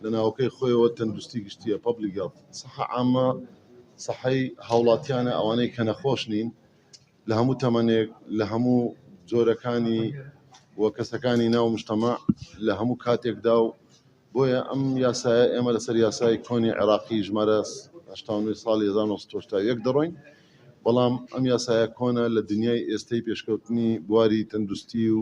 لە ناوەکەی خۆیەوە تەندروستی گشتیە پبلی گەڵ سەحە ئامە سەحەی هاوڵاتیانە ئەوانەی کە نەخۆش نین لە هەموو تەمەنێک لە هەموو جۆرەکانی و کەسەکانی ناو مشتەما لە هەموو کاتێکدا و بۆیە ئەم یاسایە ئێمە لەسەر یاسای کۆنی عێراقی ژمارە ساڵی 1970 دەڕۆین بەڵام ئەم یاسایە کۆنە لە دنیای ئێستەی پێشکەوتنی بواری تەندروستی و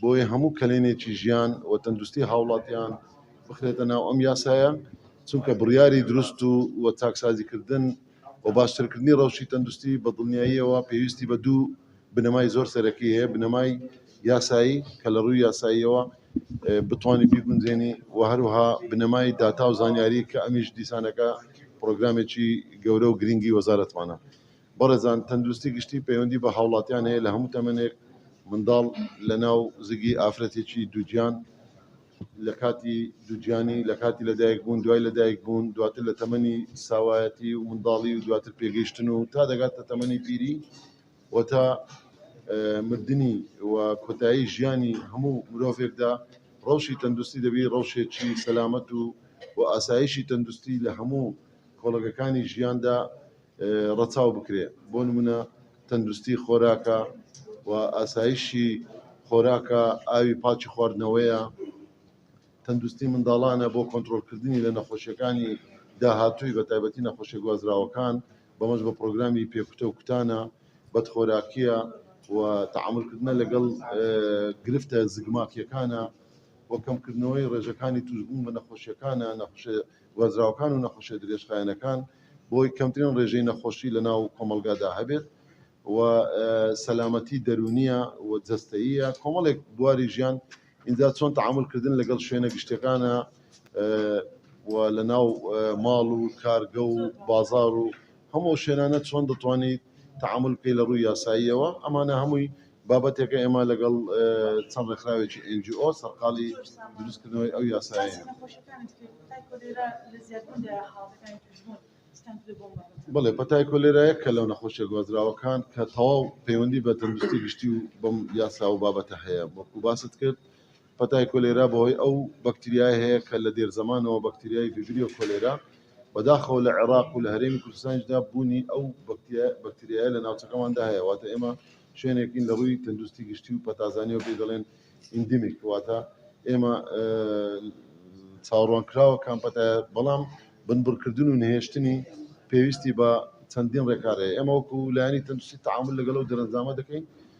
بۆیە هەموو کەلێنێکی ژیان و تەندروستی هاوڵاتیان بخرێتە ناو ئەم یاسایە، چونکە بڕیاری دروست و و چاکسازیکردن و باشترکردنی ڕەوشی تەندروستی بە دڵنیاییەوە پێویستی بە دوو بنەمای زۆر سەرەکی هەیە، بنەمای یاسایی کە لە ڕووی یاساییەوە بتوانی بیگونجێنی و هەروەها بنەمای داتا و زانیاری کە ئەمیش دیسانەکە پڕۆگرامێکی گەورە و گرنگی وەزارەتمانە. بەڕێزان تەندروستی گشتی پەیوەندی بە هاوڵاتیان هەیە لە هەموو تەمەنێک منداڵ لە ناو زگی ئافرەتێکی دووگیان لە کاتی دووگیانی لە کاتی لەدایک بوون دوای لەدایک بوون دواتر لە تەمەنی ساوایەتی و منداڵی و دواتر پێگەیشتن و تا دەگاتە تەمەنی پیری و تا مردنی و کۆتایی ژیانی هەموو مرۆڤێکدا ڕەوشی تەندروستی دەبی ڕەوشێکی سەلامەت و و ئاسایشی تەندروستی لە هەموو کۆڵەگەکانی ژیاندا ڕەچاو بکرێ بۆ نمونە تەندروستی خۆراکە و ئاسایشی خۆراکە ئاوی پاکی خواردنەوەیە تەندروستی منداڵانە بۆ کۆنتترۆلکردنی لە نەخۆشیەکانی داهاتووی بە تایبەتی نەخۆشی گوازراوەکان بەمەش بە پرۆگرامی پێکوتە و کوتانە بەدخۆراکیە و تعاملکردنە لەگەڵ گرفتە زگماکیەکانە بۆ کەمکردنەوەی ڕێژەکانی توشبوون بە نەخۆشیەکانە نەخش گوازراوەکان و نەخۆشیە درێژخایەنەکان بۆی کەمترین ڕێژەی نەخۆشی لە ناو کۆمەڵگادا هەبێت و سەلامەتی دەرونیە و جەستەیە کۆمەڵێک بواری ژیان اینجا چۆن تعاملکردن لەگەڵ شوێنە گشتەکانە و لە ناو ماڵ و کارگە و بازار و هەموو شوێنانە چۆن دەتوانیت تعامل بکەی لە ڕووی یاساییەوە ئەمانە هەمووی بابەتێکە ئێمە لەگەڵ چەند ڕێکخراوێکی ئێن جی ئۆ سەرقاڵی دروستکردنەوەی ئەو یاسایەین. بڵێ پەتای کۆلێرایە کە لەو نەخۆشیە گوازراوەکان کە تەواو پەیوەندی بە تەندروستی گشتی و بەم یاسا و بابەتە هەیە وەکو باست کرد پەتای کۆلێرا بەهۆی ئەو بەکتریایە هەیە کە لە دێرزەمانەوە بەکتریای ڤیبریۆ کۆلێرا بەداخەوە لە عێراق و لە هەرێمی کوردستانیشدا بوونی ئەو بەکتریایە لە ناوچەکەماندا هەیە واتە ئێمە شوێنێکین لە ڕووی تەندروستی گشتی و پەتازانیەوە پێی دەڵێن ئیندمیک واتە ئێمە چاوەڕوان کراوە کامپەتە بەڵام بنبڕکردن و نهێشتنی پێویستی بە چەندین ڕێکارەیە ئێمە وەکو لایەنی تەندروستی تعامل لەگەڵ و دەرەنجامە دەکەین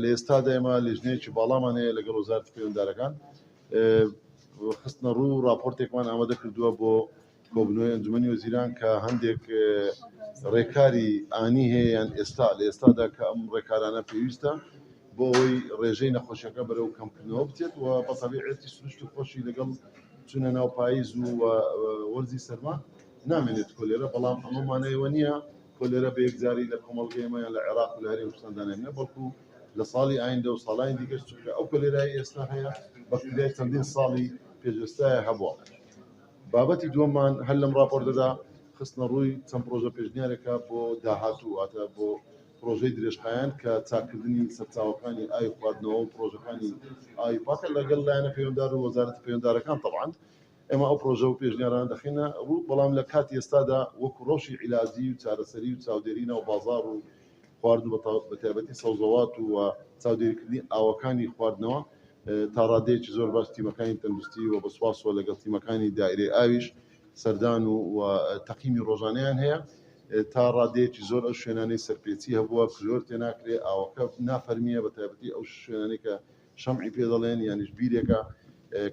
لە ئێستادا ئێمە لیژنەیەکی باڵامان هەیە لەگەڵ وەزارەتی پەیوەندارەکان خستنەڕوو و راپۆرتێکمان ئامادە کردووە بۆ کۆبنەوەی ئەنجومەنی وەزیران کە هەندێک ڕێکاری ئانی هەیە یان ئێستا لە ئێستادا کە ئەم ڕێکارانە پێویستە بۆ ئەوەی ڕێژەی نەخۆشیەکە بەرەو کەمکردنەوە بچێت و بەتەبیعەتی سروشت و خۆشی لەگەڵ چونە ناو پاییز و وەرزی سەرما نامێنێت کۆلێرە بەڵام ئەمەمانەیەوە نییە کۆلێرا بە یەکجاری لە کۆمەڵگەی ئێمە یان لە عێراق و لە هەرێمی کوردستاندا نەمینێت، بەڵکو لە ساڵی ئایندە و ساڵانی دیکەش، چونکە ئەو کۆلێرای ئێستا هەیە بەکتریای چەندین ساڵی پێشئێستایە هەبووە. بابەتی دووەممان هەر لەم ڕاپۆرتەدا خستنەڕووی چەند پڕۆژە پێشنیارێکە بۆ داهاتوو، واتە بۆ پڕۆژەی درێژخایەن کە چاککردنی سەرچاوەکانی ئاوی خواردنەوە و پڕۆژەکانی ئاوی پاکە لەگەڵ لایەنە پەیوەندار و وەزارەتە پەیوەندارەکان تەبعەن ئێمە ئەو پڕۆژە و پێشنیارانە دەخەینە ڕوو، بەڵام لە کاتی ئێستادا وەکو ڕەوشی عیلاجی و چارەسەری و چاودێری ناو بازاڕ و خوارد و بەتایبەتی سەوزەوات و چاودێریکردنی ئاوەکانی خواردنەوە تا ڕادەیەکی زۆر باش تیمەکانی تەندروستی و بە سوپاسەوە لەگەڵ تیمەکانی دائیرەی ئاویش سەردان و و تەقیمی ڕۆژانەیان هەیە تا ڕادەیەکی زۆر ئەو شوێنانەی سەرپێچی هەبووە کلۆر تێناکرێ ئاوەکە نافەرمییە بەتایبەتی ئەو شوێنانەی کە شەمعی پێ دەڵێن یانیش بیرێکە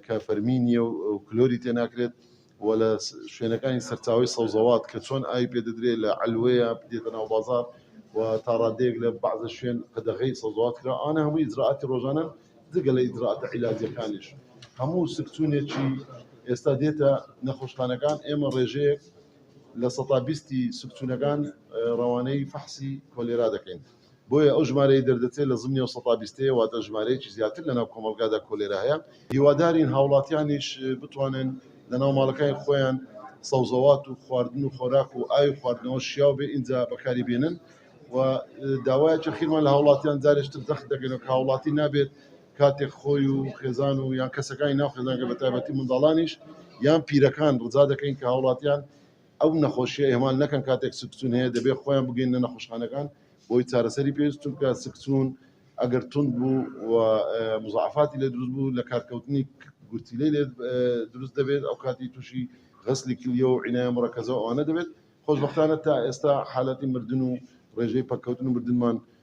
کە فەرمی نییە و کلۆری تێ ناکرێت و لە شوێنەکانی سەرچاوی سەوزەوات کە چۆن ئاوی پێ دەدرێ لە عەلوەیە دێتە ناو بازار و تا ڕادەیەک لە بەعزە شوێن قەدەغەی سەوزەوات کرا ئەوانە هەموو ئیجرائاتی ڕۆژانەن جگە لە ئیجرائاتە عیلاجیەکانیش هەموو سکچوونێکی ئێستا دێتە نەخۆشخانەکان ئێمە ڕێژەیەک لە سەدا بیستی سکچوونەکان ڕەوانەی فەحسی کۆلێرا دەکەین بۆیە ئەو ژمارەی دەردەچێت لە زمنی ئەو سەتا بیستەیە، واتە ژمارەیەکی زیاتر لەناو کۆمەڵگادا کۆلێرا هەیە. هیوادارین هاوڵاتیانیش بتوانن لەناو ماڵەکانی خۆیان سەوزەوات و خواردن و خۆراک و ئاوی خواردنەوە شیاو بێ ئینجا بەکاری بێنن و داوای یەخیرمان لە هاوڵاتیان جارێشتر جەخت دەکەینەوە کە هاوڵاتی نابێت کاتێک خۆی و خێزان و یان کەسەکانی ناو خێزانەکەی بەتایبەتی منداڵانیش یان پیرەکان ڕجا دەکەین کە هاوڵاتیان ئەو نەخۆشیە ئیهمال نەکەن کاتێک سکچون هەیە دەبێت خۆیان بگەیننە نەخۆشخانەکان بۆی چارەسەری پێویست چونکە سکچون ئەگەر تونند بوو و مزعفاتی لێ دروست بوو لە کارکەوتنی گورتیلەی لێ دروست دەبێت ئەو کاتی تووشی غەسلی کلیە و عینایە مڕەکەزە ئەوانە دەبێت خۆشببختانە تا ئێستا حالەتی مردن و ڕێژەی پەککەوتن و مردنمان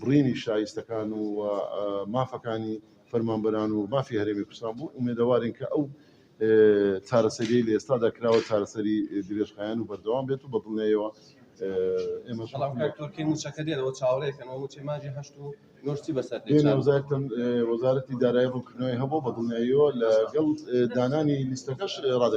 بڕینی شایستەکان و مافەکانی فەرمانبەران و مافی هەرێمی کوردستان بوو، ئومێدەوارین کە ئەو چارەسەریەی لە ئێستادا کراوە چارەسەری درێژخایەن و بەردەوام بێت و بە دڵنیاییەوە ئێمە بەڵام کاک تورکی مووچەکە دێنەوە چاوەڕێکەنەوە مووچەی مانگی هەشت و نۆش چی بەسەر دێت دێنە وەزارەتم وەزارەتی دارایی ڕوونکردنەوەی هەبوو بە دڵنیاییەوە لەگەڵ دانانی لیستەکەش ڕادەگەین